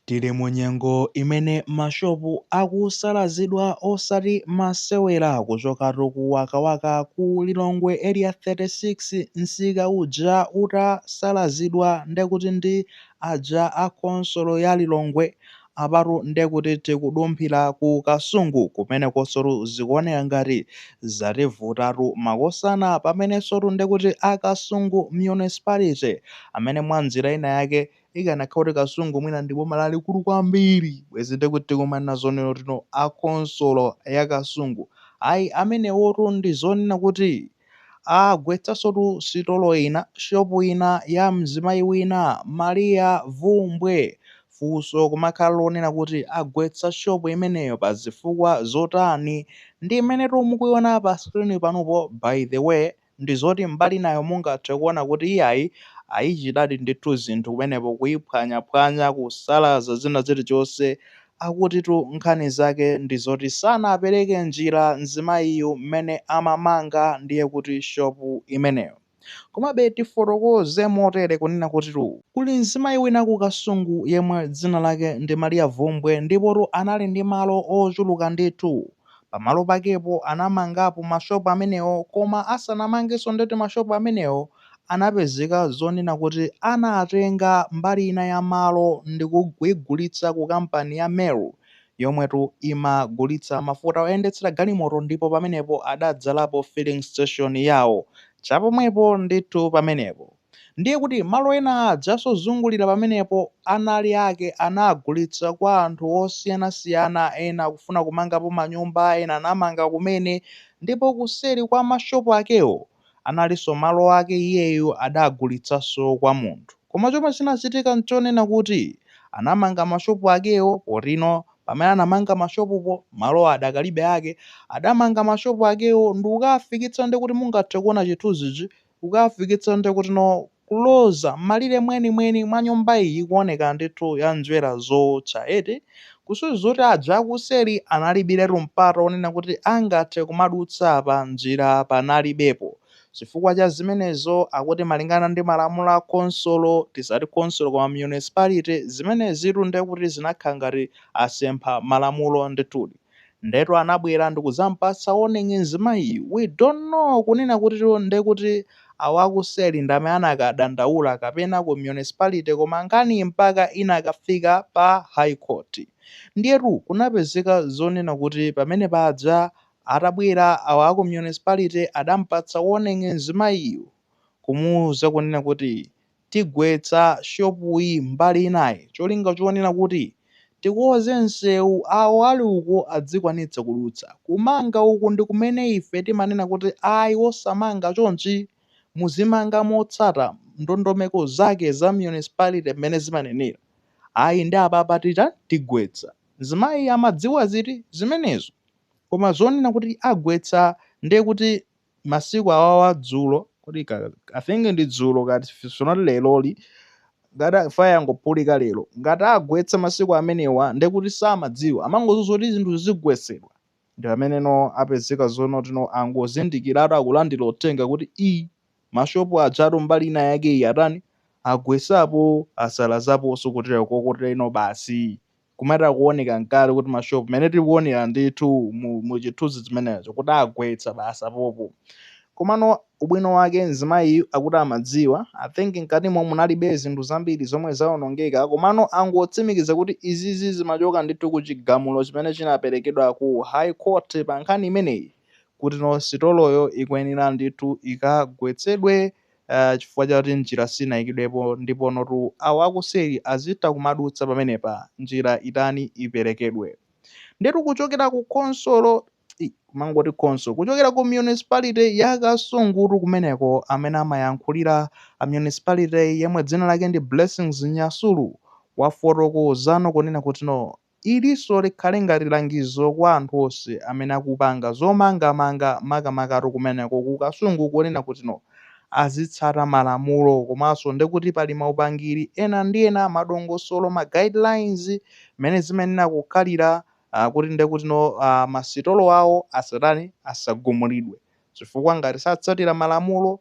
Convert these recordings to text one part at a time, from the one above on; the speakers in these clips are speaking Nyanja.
Tili mu nyengo imene ma shop akusalazidwa osati masewera kuchokatu ku wakawaka ku Lilongwe area 36 nsika uja utasalazidwa ndekuti ndi aja a khonsolo ya Lilongwe apatu ndekuti tikudumphira ku Kasungu kumenekosotu zikuoneka ngati zativutatu makosana pamenesotu ndekuti a Kasungu municipality amene mwa nzira ina yake Ikanakhala kuti Kasungu mwina ndi boma lalikulu kwambiri, bwezi nde kuti tikumanena zonena tino a khonsolo ya Kasungu. Ayi, amenewotu ndi zonena kuti agwetsansotu sitolo ina, shopu ina ya mzimayi wina, Maria Vumbwe. Funso kumakhala lonena kuti agwetsa shopu imeneyo pa zifukwa zotani? Ndi imenetu mukuiona pa screen panupo by the way. ndi zoti mbali inayo mungathe kuona kuti iyayi ayichitadi ndithu zinthu kumenepo kuyiphwanyaphwanya, kusalaza zina zilichonse. Akutitu nkhani zake ndi zoti sanapereke njira mzimayiyu mmene amamanga ndiye kuti shop imeneyo. Komabe tifotokoze motere kunena kutitu, kuli mzimayi wina ku Kasungu yemwe dzina lake ndi Maria Vumbwe ndipotu anali ndi malo ochuluka ndithu. pamalo pakepo anamangapo ma shop amenewo koma asanamangenso ndeti ma shop amenewo anapezeka zonena kuti anatenga mbali ina ya malo ndikuigulitsa ku kampani ya Meru yomwetu imagulitsa mafuta oyendetsera galimoto ndipo pamenepo adadzalapo filling station yawo chapomwepo ndithu pamenepo. Ndiye kuti malo ena ajaso ozungulira pamenepo anali ake anagulitsa kwa anthu osiyanasiyana ena akufuna kumangapo manyumba ena anamanga kumene ndipo kuseri kwa mashopu akewo analinso malo ake iyeyu adagulitsanso kwa munthu koma chomwe chinachitika nchonena kuti anamanga mashopu akewo potino pamene anamanga mashopupo malo adakalibe ake adamanga mashopu akewo ndikukaafikitsa ndekuti mungathe kuona chithunzichi kukafikitsa ndekuti no kuloza m'malire mwenimweni mwa nyumba iyi ikuoneka ndithu ya njwera zowotcha eti kusonyeza kuti aja akuseri analibiretu mpata wonena kuti angathe kumadutsa apa njira panalibepo chifukwa cha zimenezo akuti malingana ndi malamulo a khonsolo tisati khonsolo koma municipality zimenezitu ndekuti zinakhala ngati asempha malamulo ndithudi. ndetu anabwera ndikuzampatsa warning mzimayiyu we don't know kunena kuti ndekuti awo akuseri ndame anakadandaula kapena ku municipality koma nkhaniyi mpaka inakafika pa high court ndiyetu kunapezeka zonena kuti pamene paja atabwera awo aku municipality adampatsa warning mzimayiyu kumuuza kunena kuti Tigwetsa shopuyi mbali inayi cholinga chonena kuti tikonze msewu awo ali uko adzikwanitsa kudutsa. Kumanga uku ndi kumene ife timanena kuti ayi osamanga chonchi, muzimanga motsata ndondomeko zake za municipality mmene zimanenera. Ayi nde apapa titani? Tigwetsa. Mzimayi amadziwa ziti zimenezo? Koma zonena kuti agwetsa nde kuti. masiku awawa dzulo kodi i think ndi dzulo kaya if not leroli ngati a- fire yangophulika lero ngati agwetsa masiku amenewa nde kuti samadziwa amangodziwa zokuti zinthu zigwetsedwa ndi ameneno apezeka zonoti no angozindikira akulandira uthenga kuti i mashopu ajatu mbali ina yake iyi atani agwetsapo asalazaponso kotero kokotere no basi kumatha kuoneka nkale kuti mashopu mmene tikuonera ndithu mu, mu chithunzi chimenecho kuti agwetsa basi pompo komano ubwino wake mzimayi akuti amadziwa i think mkatimo munalibe zinthu zambiri zomwe zaonongeka komano angotsimikiza kuti izizi zimachoka ndithu ku chigamulo chimene chinaperekedwa ku high court pa nkhani imeneyi kuti no sitoloyo ikuyenera ndithu ikagwetsedwe Eeeh chifukwa chakuti njira sinayikidwepo ndiponotu awo akuseri azitha kumadutsa pamenepa njira itani iperekedwe ndetu kuchokera ku khonsolo eeh kumangoti khonsolo kuchokera ku municipality ya Kasungutu kumeneko amene amayankhulira a municipality'yi yemwe dzina lake ndi Blessings Nyasulu wafotokozano kunena kuti no Ilinso likhale ngati langizo kwa anthu onse amene akupanga zomangamanga makamakatu kumeneko ku Kasungu kunena kuti no azitsata malamulo komanso ndekuti pali maupangiri ena ndi ena, madongosolo, ma guidelines mmene zimayenera kukhalira kuti ndekuti no masitolo awo asatani, asagumulidwe chifukwa ngati satsatira malamulo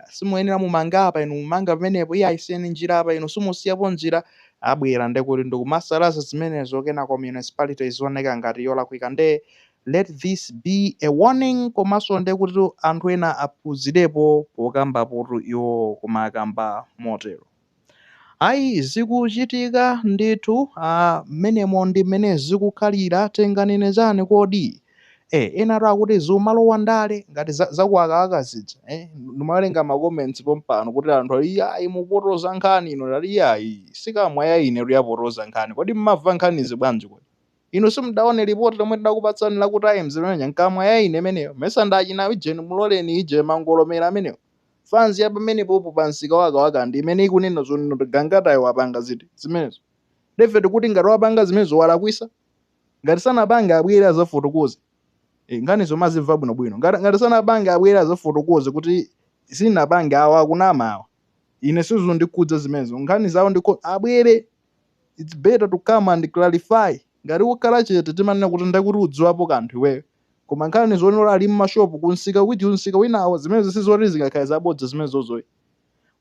simuyenera mumange apa, inu mumanga pamenepo, iyayi siyani njira apa, inu simusiyapo njira, abwera nde kuti ndikumasalaza zimenezo kenako municipality izioneka ngati yolakwika nde let this be a warning komanso nde kutitu anthu ena aphunzirepo pokambapotu iwowo kumakamba motero. Ayi, zikuchitika ndithu, a, mmenemo ndi mmene zikukhalira, tinganene chani kodi? E, enatu akuti zikumalowa ndale, ngati za, za ku Wakawaka zija, e, ndimawerenga ma comments pompano kuti anthu ali iyayi mukupotoza nkhani inu, ndati iyayi, si kamwa ya inetu yapotoza nkhani, kodi mmamva nkhanizi bwanji kodi? Inu simudaone report lomwe tidakupatsani la ku Times limene lija, nkamwa ya ine imeneyo, mesa ndi achina Eugene Mloleni, ije, mangolomera amenewo. Fanzi ya pamenepopo pa msika wa Kawaka ndi imene ikunena zonena kuti Gangatayo wapanga ziti zimenezo. Ndiye ife tikuti ngati wapanga zimenezo walakwisa? Ngati sanapange abwere azafotokoze. Eh, nkhani zomazimva bwino bwino. Ngati ngati sanapange abwere azafotokoze kuti sinapange awa akunama awa. Ine sizundikhudza zimenezo. Nkhani zawo ndiko abwere it's better to come and clarify. Ngati ukhala chete timanena kuti ndakuti udziwapo kanthu iweyo. koma nkhani zonena ali mma shop ku nsika uti nsika winawo zimenezo sizoti zingakhale zabodza zimenezozo ayi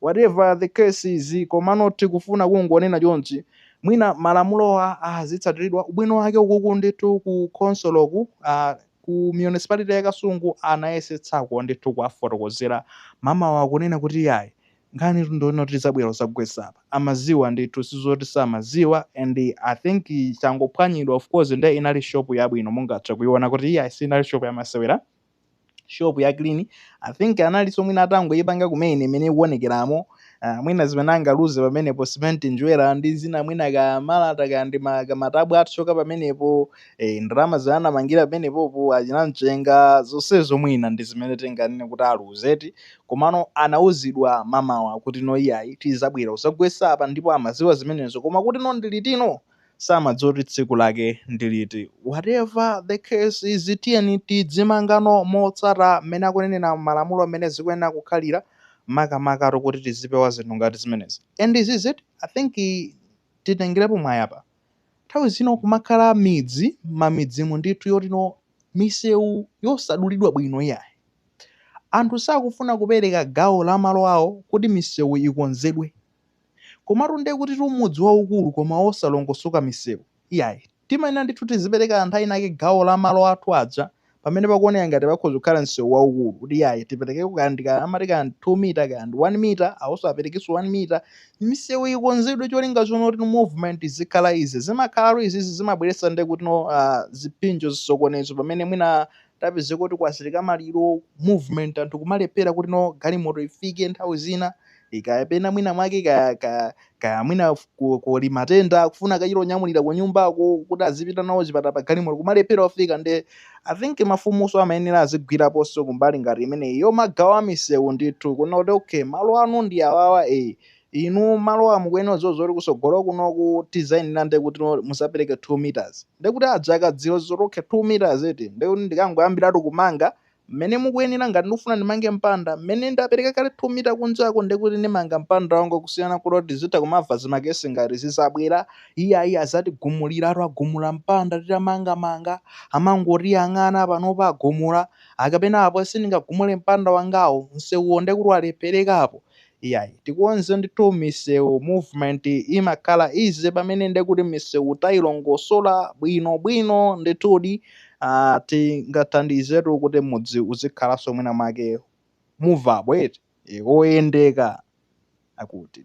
whatever the case is komano tikufuna kungonena chonchi mwina malamulowa azitsatilidwa ubwino wake ukuku ndithu ku khonsoloku ah, ku municipality ya kasungu anayesetsako ndithu kuwafotokozera mamawa akunena kuti yayi nkhanitu ndi yonena kuti zabwera kuzagwesa apa amaziwa ndithu sizoti samaziwa and i think changophwanyidwa of course nde inali shop yabwino mungathe kuiona kuti iyayi sinali shop yamasewera shop ya clean i think analinso mwina atangoipanga kumene mmene ikuonekeramo uh, mwina zimene angaluze pamenepo cement njerwa ndi zina mwina ka malata ka ndi ma- kamatabwa atsoka pamenepo eh, ndalama zimene anamangira pamenepopo achina mchenga zonsezo mwina ndi zimene tinganene kuti aluzeti Komano anauzidwa mamawa kuti no iyayi tizabwera kuzagwesa apa ndipo amaziwa zimenezo koma kuti no ndi liti no samadziwa kuti tsiku lake ndiliti whatever the case is tiyeni tidzimanga no motsata mmene akunenera malamulo mmene zikuyenera kukhalira makamakatu kuti tizipewa zinthu ngati zimenezi and izizi i think titengerepo mwayi apa nthawi zina kumakhala midzi mamidzimu ndithu yoti no misewu yosadulidwa bwino iyayi. Anthu sakufuna kupereka gawo la malo awo kuti misewu ikonzedwe. Komatu nde kutitu mudzi waukulu koma wosalongosoka misewu. Iyayi, timayenera ndithu tizipereka anthu alinake gawo la malo athu aja pamene pakuoneka ngati pakhoza kukhala msewu waukulu kuti iyayi tiperekeko kaya ndi ka, amati kaya ndi 2 mita kaya ndi 1 mita, awonso aperekenso 1 mita. misewu ikonzedwe cholinga choti no movement izikhala izi zimakhala izizi zimabweretsa nde kuti no ah, zipsinjo zisokonezo pamene mwina tapezeka kuti kwachitika maliro movement anthu kumalephera kuti no galimoto ifike nthawi zina kaya pena mwina mwake kaya kaya kaya mwina f- ku- kuli matenda kufuna kuchita onyamulira ku nyumbako kuti azipita nawo chipatala pa galimoto kumalephera ofika nde I think mafumuso amayenera azigwiraponso kumbali ngati imeneyi yomagawa misewu ndithu kunena kuti okay malo anu ndi awawa e inu malowa mukuyenera kudziwa zoti kusogolo kunoku tizayenera nde kuti muzapereke 2 meters nde kuti aja akadziwa zoti okay 2 meters eti nde kuti ndikangoyambiratu kumanga mmene mukuyenera ngati ndikufuna ndimange mpanda mmene ndapereka kale 2 mita kunjako nde kuti ndimanga mpanda wanga kusiyana kuti tizitha kumava zimakesi ngati zizabwera Iyayi azatigumuliratu akagumula mpanda titamangamanga amangotiyang'ana panopa agumula akapena apo sindingagumule mpanda wangawo msewuwo ndekuti walephereka apo iyayi tikonze ndithu misewu movement imakhala easy pamene ndekuti misewu tayilongosola bwino bwino ndithudi uh, tingathandizetu kuti m'mudzi muzikhalanso mwina mwake movability e, oyendeka akuti